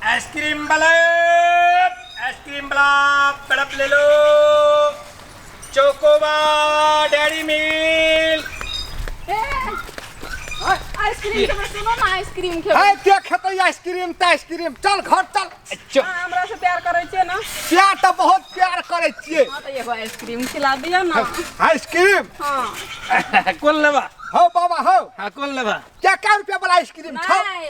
Ice cream वाले ice cream वाला तड़प ले लो चोकोबा डेरी मिल्क आइसक्रीम के बस सुनो ना आइसक्रीम है खेबै के खेतै आइसक्रीम त आइसक्रीम चल घर चल चो- अहाँ हमरा से प्यार करै छियै ना प्यार त बहुत प्यार करै छियै हँ तऽ एगो आइसक्रीम खिला दिअ ना आइसक्रीम हँ कोन लेबा हौ बाबा हौ हाँ कोन लेबा क्या क्या रुपया वाला आइसक्रीम छौ नहि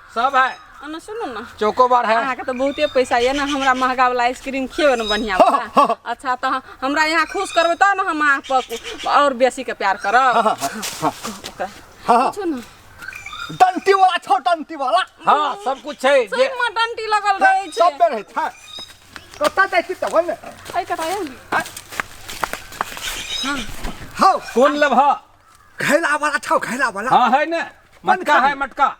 सब है अना सुनू ने चोकोबार है अहाँके तऽ बहुते पैसा यऽ ने हमरा महंगा वाला आइसक्रीम खियेबै ने बढ़िआँ वाला अच्छा तऽ अहाँ- हमरा यहाँ खुश करबै तब ने हम अहाँ पर आओर बेसी के प्यार करब ओकरा पूछू ने डंटी वाला छौ डंटी वाला हाँ सब कुछ है जे सहीमे डंटी लगल रहै छै सब बेर है था कत्ता जाइ छी तब ने अइ कतऽ यऽ ने? हौ कोन लेब हाँ घैला वाला छौ घैला वाला हाँ है ने मटका है मटका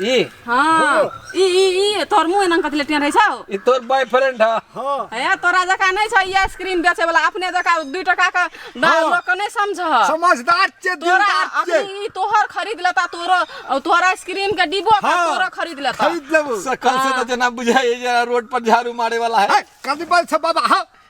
ई हाँ ई ई ई तोर मुंह एना कथि लेटिया रहै छौ ई तोर बॉयफ्रेंड ह हां ए तोरा जका नै छौ ई आइसक्रीम बेचे वाला अपने जका 2 टका के हाँ। लोग के नै समझ समझदार छे तोरा अखनी ई तोहर खरीद लेता तोरो तोहर आइसक्रीम के डिब्बो का हाँ। तोरो खरीद लेता खरीद लेबो सकल से त हाँ। जना बुझाय जे रोड पर झाड़ू मारे वाला है कदी बल छ बाबा हां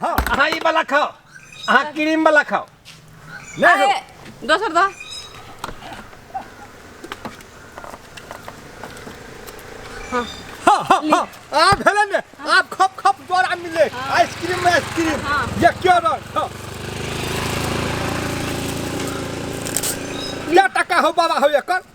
हाँ अहाँ ई वाला खाओ अहाँ क्रीम वाला खाओ नहीं अरे हो दोसर दो हाँ हाँ हाँ आप भेलन ने आप खप खप द्वारा मिले आइसक्रीम में आइसक्रीम हाँ। ये क्या रंग हाँ ले टका हो बाबा हो एकर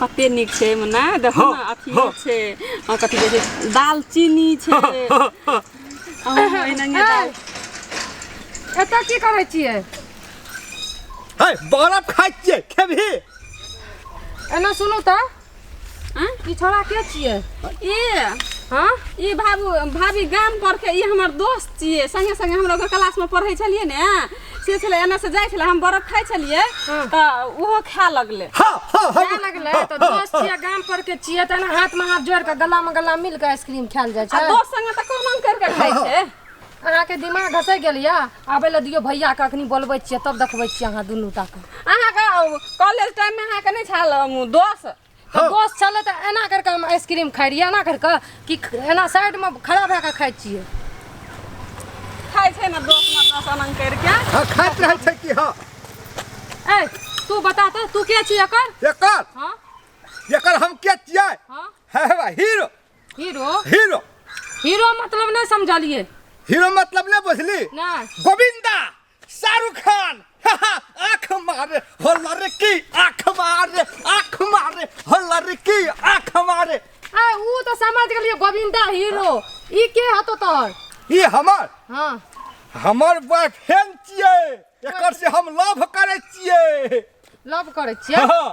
कते नीक छै एहिमे ने देखो ने अथी छै अहाँ कथी कहै छै दालचीनी छै अहूमे एनाहिए दाल एतऽ की करै छियै है बरफ खाइ छियै खेबही एना सुनू तऽ आँ? ई छोड़ा के छियै ई हँ ई भाबू भाभी गाम पर के ई हमर दोस्त छियै संगे संगे हमरा ओकर क्लास में पढ़ै छलियै ने से छलै एने से जाइ छलै हम बर्फ खाइ छलियै तऽ ओहो खाय लगलै हा हा हा खाय लगलै तऽ दोस्त छियै गाम पर के छियै तऽ एना हाथ में हाथ जोड़ के गला में गला मिल के आइसक्रीम खायल जाइ आ छै दोस्त संगे तऽ कोना करि कऽ खाइ छै अहाँ के दिमाग घसै गेल यऽ आबै लए दियौ भैया के अखनी बोलबै छियै तब देखबै छियै अहाँ दुनू टा के अहाँके कॉलेज टाइममे अहाँके नहि छल दोस्त तऽ हौ। दोस्त छलै तऽ एना करि कऽ हम आइसक्रीम खाइ रहियै एना करि कऽ कि एना साइडमे खड़ा भए कऽ खाइ छियै खाइ छै ने दोस्त ने दोस्त अनंग करि के हँ खाइत रहै छै कि हँ ए तू बता तऽ तू के छी एकर एकर हँ एकर हम के छियै हँ हे हे बा, हीरो हीरो हीरो हीरो मतलब नहि समझलियै हीरो मतलब नहि बुझली नहि गोविंदा शाहरुख खान आँख मारे हो लड़की आँख मारे आँख मारे हो लड़की आँख मारे आ ऊ तो समझ गेलियो गोविंदा हीरो ई के हतो तोहर ई हमर हाँ हमर बॉयफ्रेंड छियै एकर से हम लव करे छियै लव करै छियै हाँ,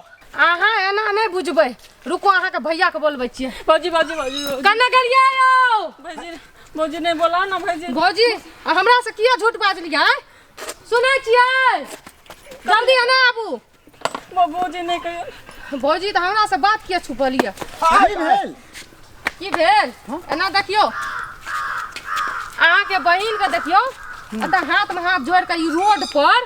अहाँ एना नहि बुझबै रुको अहाँके भैया के बोलबै छियै भौजी भौजी भौजी भौजी। कने गेलियै यौ भौजी भौजी नहि बोला ना भौजी भौजी आ हमरा से किया झूठ बाजलियै सुनै छियै जल्दी एना आबू भौ- भौजी नहि कहियो भौजी तऽ हमरा से बात किया छुपलियै की भेल की भेल एना देखियौ अहाँके बहिन के देखियौ एतऽ हाथ में हाथ जोड़ के ई रोड पर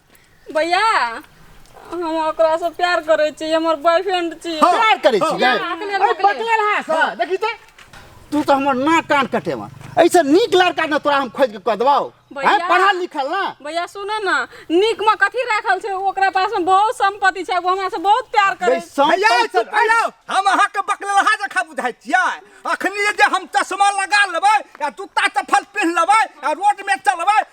भैया हम ओकरा से प्यार करे छी हमर बॉयफ्रेंड छी प्यार करै छी गै अखने अरे बकले। बकले रहा सर देखी ते तू तो हमर नाक कान कटेवा ऐसे नीक लड़का ने तोरा हम खोज के कह देबाओ भैया। हैं पढ़ल लिखल ना भैया सुनो ना नीक में कथी राखल छै ओकरा पास में बहुत संपत्ति छै वो हमरा से बहुत प्यार करे छै। बैसम भैया पैसा- चुप भैया हम अहाँके बकलहा जखा बुझाइ छियै अखनी जे हम चश्मा लगा लेबै आ जूता चप्पल पहिन लेबै आ रोड में चलबै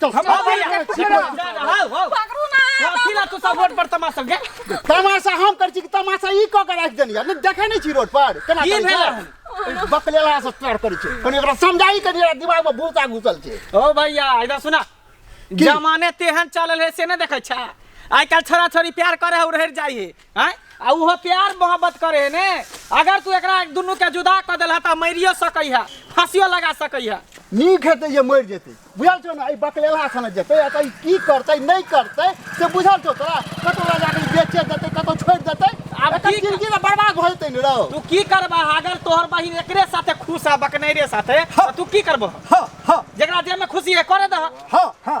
चल हम अब भैया, जा, ठीक जा, बा। जा, जा, हाउ, हाउ। पकड़ू ना कथी ला तू सब रोड पर तमाशा गे तमाशा हम कर छी कि तमाशा ई क के राख देनी यार देखे नहीं छी रोड पर केना की करै भेल छै बकलेला से स्टार्ट करै छै कनी ओकरा समझाई कनी ओकरा दिमाग में भूसा घुसल छै ओ भैया इधर सुना जमाने तेहन चलल है से नहीं देखे छा आइ काल्हि छोरा छोरी प्यार करे है उड़हर जाइ है आय आ उहो प्यार मोहब्बत करे है ने अगर तू एकरा दुनू के जुदा कर देलह त मरियो सकै है फांसियो लगा सकै है नीक हेतै जे मरि जेतै बुझल छौ ने एहि बकलेला सने जेतै एतऽ ई की करतै नहि करतै से बुझल छौ तोरा कतौ लऽ जाकऽ ई बेचे देतै कतौ छोड़ि देतै आब आब एकर की- जिनगी तऽ बर्बाद भऽ जेतै ने रौ तू की करबा अगर तोहर बहिन एकरे साथे खुश है बकनैरे साथे त तू की करबह हँ हँ जकरा जे में खुशी है करे दह हँ हँ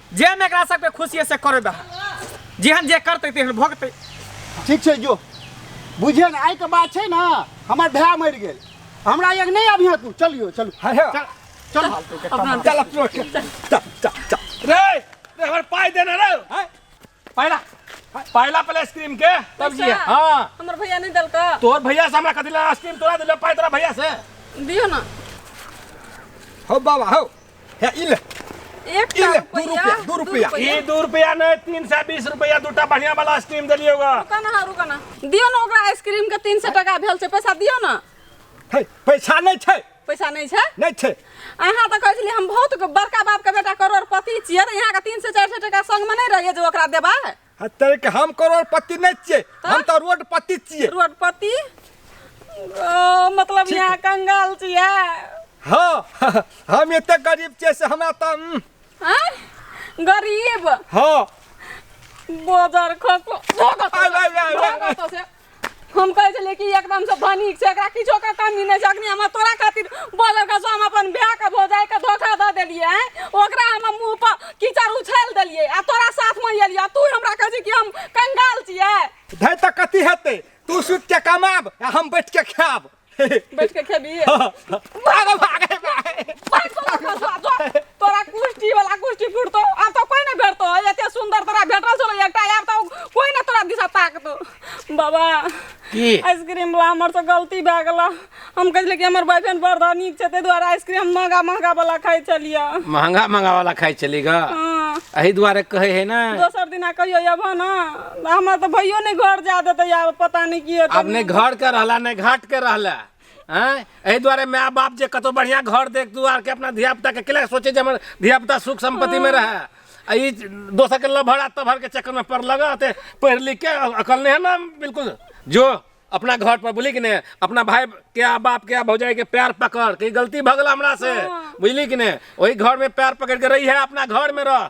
जे में एकरा सबके खुशी है से करे दह जेहन जे करते तेहन भोगते ठीक छै जो बुझिए ने आइके बात छै ने हमर भाय मरि गेल हमरा एक नहि अभिया तू चलियो चलू है है। चल चल अपना चल अपना चल चल चल रे रे हमर पाई देना रे हैं? पहिला पहिला पहले आइसक्रीम के तब जी पैसा? हां हमर भैया नहीं दलका तोर भैया से हमरा कथी ला आइसक्रीम तोरा दिले पाए तोरा भैया से दियो ना हो बाबा हो हे इल एक इल का दू रुपया दू रुपया ई दू रुपया नहीं तीन सौ बीस रुपया दूटा बढ़िया वाला आइसक्रीम दिलिए होगा रुका ना रुका ना दियो ना ओकरा आइसक्रीम के तीन सौ टका भेल से पैसा दियो ना हे पैसा नहीं छै पैसा नहीं छे नहीं छे अहा तो कह छली हम बहुत बड़का बाप के बेटा करोड़पति छिए त यहां के 300 400 टका संग में नहीं रहिए जे ओकरा देबा हतरे के हम करोड़पति नहीं छिए हम तो रोडपति छिए रोडपति ओ मतलब यहां कंगाल छिए हां हम एते गरीब छिए से हमरा त हम्म। हां गरीब हां बाजार खसो धोखा से हम कहै छलियै कि एकदमसँ धनिक छै एकरा किछो के कमी नहि छै अखनी हम तोरा खातिर बजल कसो हम अपन भाय के भौजाइ के धोखा दऽ देलियै आँय? ओकरा हम मुँह पर कीचड़ उछालि देलियै आ तोरा साथमे एलियै तू हमरा कहै छी कि हम कंगाल छियै धै तऽ कथी हेतै तू सुति के कमाब आ हम बैठ के खायब बैठ के खेबी भागे भागे भागे भाग सोना का सोना जो तोरा कुश्ती वाला कुश्ती फुटतो अब तो कोई ना भेटतो एते सुंदर तोरा भेटल छलो एकटा यार तो कोई ना तोरा दिशा ताकतो बाबा की आइसक्रीम वाला हमर से गलती भए गेल हम कहले कि हमर बॉयफ्रेंड बड़ धनिक छै ताहि दुआरे आइसक्रीम महंगा महंगा वाला खाइ छलियै महंगा महंगा वाला खाइ छली ग हाँ, एही दुआरे कहै है ना दोसर दिना कहियो अबह ना हमरा तऽ भैयो नहि घर जा देतै आब पता नहि की हेतै आब नहि घर के रहला नहि घाट के रहला हैं एहि दुआरे माय बाप जे कतौ बढ़िया घर देख दुआर के अपना धिया पुता के केला सोचे जे हमर धिया पुता सुख संपत्ति में रहे आ ई दोसर के लभर आ तभर के चक्कर में पड़ लगा ते पढ़ लिख के अकल नहीं है ना बिल्कुल जो अपना घर पर बोली कि ने अपना भाई के आ बाप के आ भौजाई के पैर पकड़ के ई गलती भगला हमरा से बुझली कि ने वही घर में पैर पकड़ के रही है अपना घर में रह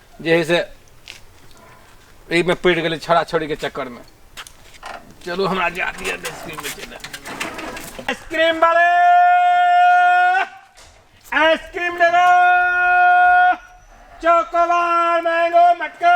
जे है से एहिमे पड़ि गेलै छोड़ा छोड़ीके चक्करमे चलू हमरा जा दिअ आइसक्रीम बेचै लए आइसक्रीम वाले आइसक्रीम ले लो चॉकोबार मैंगो मटका